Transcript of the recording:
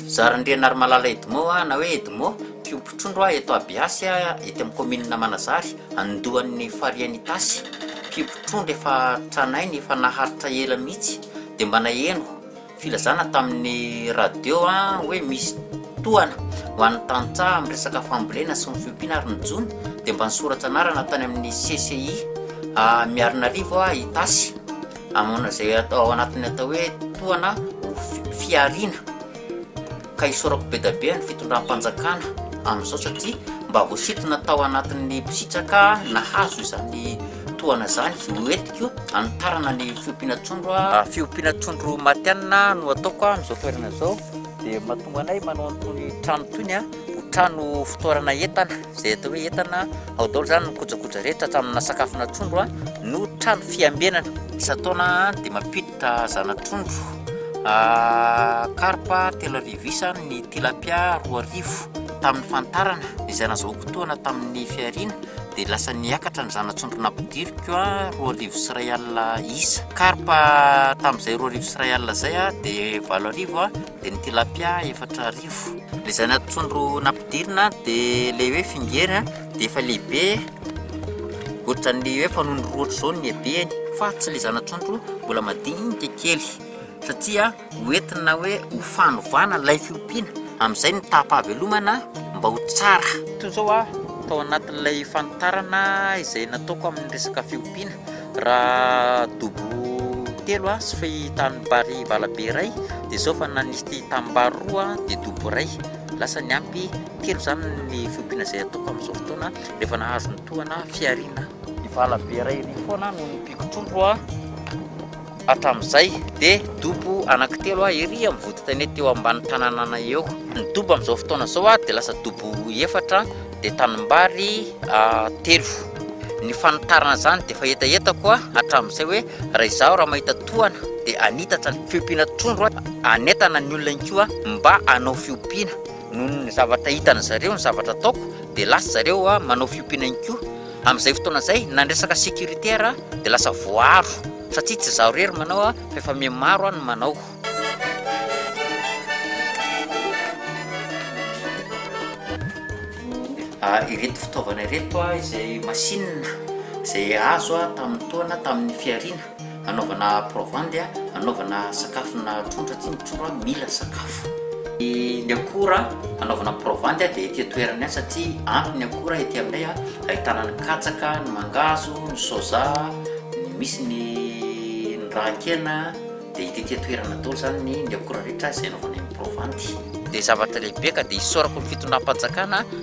Zarindrianarimalala Edmond a, na hoe Edmond, mpiompy trondro a, eto Abiasy a, ety amin'ny kaominina Manazary, andohan'ny farihin'i Itasy. Mpiompy trondro efa tranainy, efa naharitra ela mihitsy, dia mba naheno. Filazana tamin'ny radio hoe misy tohana ho an'ny tantsaha amin'ny resaka fambolena sy ny fiompiana ary ny jono dia mba nisoratra anarana tany amin'ny CCI Miarinarivo aho Itasy aman'izay atao anatin'ny atao hoe tohana ho fihariana ka isaorako be da be an'ny fitondram-panjakana amin'izao satria mba voasintona tao anatin'ny mpisitraka nahazo izany tohana izany, hoentiko hanitarana ny fiompiana trondro aho. Fiompiana trondro matihanina no ataoko amin'izao toerana izao dia mahatonga anay manao an'itony trano itony a, ho trano fotoarana entana, izay atao hoe entana ao daholo izany ny kojakoja rehetra hatraminà sakafona trondro a, no trano fiambenana. Isan-taona dia mampidi-. Hita zana-trondro, karpa telo arivo isa, ny tilapia roa arivo. Tamin'ny fanitarana izay nazahoako tohana tamin'ny fihariana dia lasa niakatra ny zana-trondro nampidiriko roa arivo sy iray alina isa. Karpa tamin'izay roa arivo sy iray alina izay dia valo arivo, dia ny tilapia efatra arivo. Ilay zana-trondro nampidirina dia ilay hoe fingery dia efa lehibe. Ohatran'ny hoe fanaon'ny roa ohatr'izao ny habeny fa tsy ilay zana-trondro mbola madinika kely satria hoentina hoe ho fanovana ilay fiompiana amin'izay ny taham-pahavelomana mba ho tsara. Toy izao aho tao anatin'ilay fanitarana izay nataoko amin'ny resaka fiompiana, raha dobo telo aho sy tanimbary valabe iray dia izao fa nanisy tanimbary roa dia dobo iray, lasa ny ampy. Kely izany ny fiompiana izay ataoko amin'izao fotoana rehefa nahazo ny tohana fihariana. Vala be iray ery foana no nompiako trondro hatramin'izay dia dobo anankitelo ery amin'ny vodin-tanety eo ambany tananana eo. Ny dobo amin'izao fotoana izao dia lasa dobo efatra dia tanimbary telo. Ny fanitarana izany dia efa hetahetako hatramin'izay hoe raha izaho raha mahita tohana dia hanitatra ny fiompiana trondro hanentana ny olona ihany koa mba hanao fiompiana. Noho ny zavatra hitan'ny zareo ny zavatra ataoko dia lasa zareo manao fiompiana ihany koa. Amin'izay fotoana izay na ny resaka sécurité ara dia lasa voaaro satria tsy izaho irery manao fa efa mihamaro no manao. Ireto fitaovana ireto izay masinina izay azo tamin'ny taona tamin'ny fihariana. Anaovana provandy a, anaovana sakafo na trondro aty ny trondro a mila sakafo. Ny akora anaovana provandy a dia ety an-toerana ihany satria ampy ny akora ety aminay a, ahitana ny katsaka, ny mangahazo, ny soja, ny misy ny ny rahan-kena dia hita ety an-toerana daholo zany ny ny akora rehetra izay anaovanay ny provandy. Dia zavatra lehibe ka dia isaorako ny fitondram-panjakana.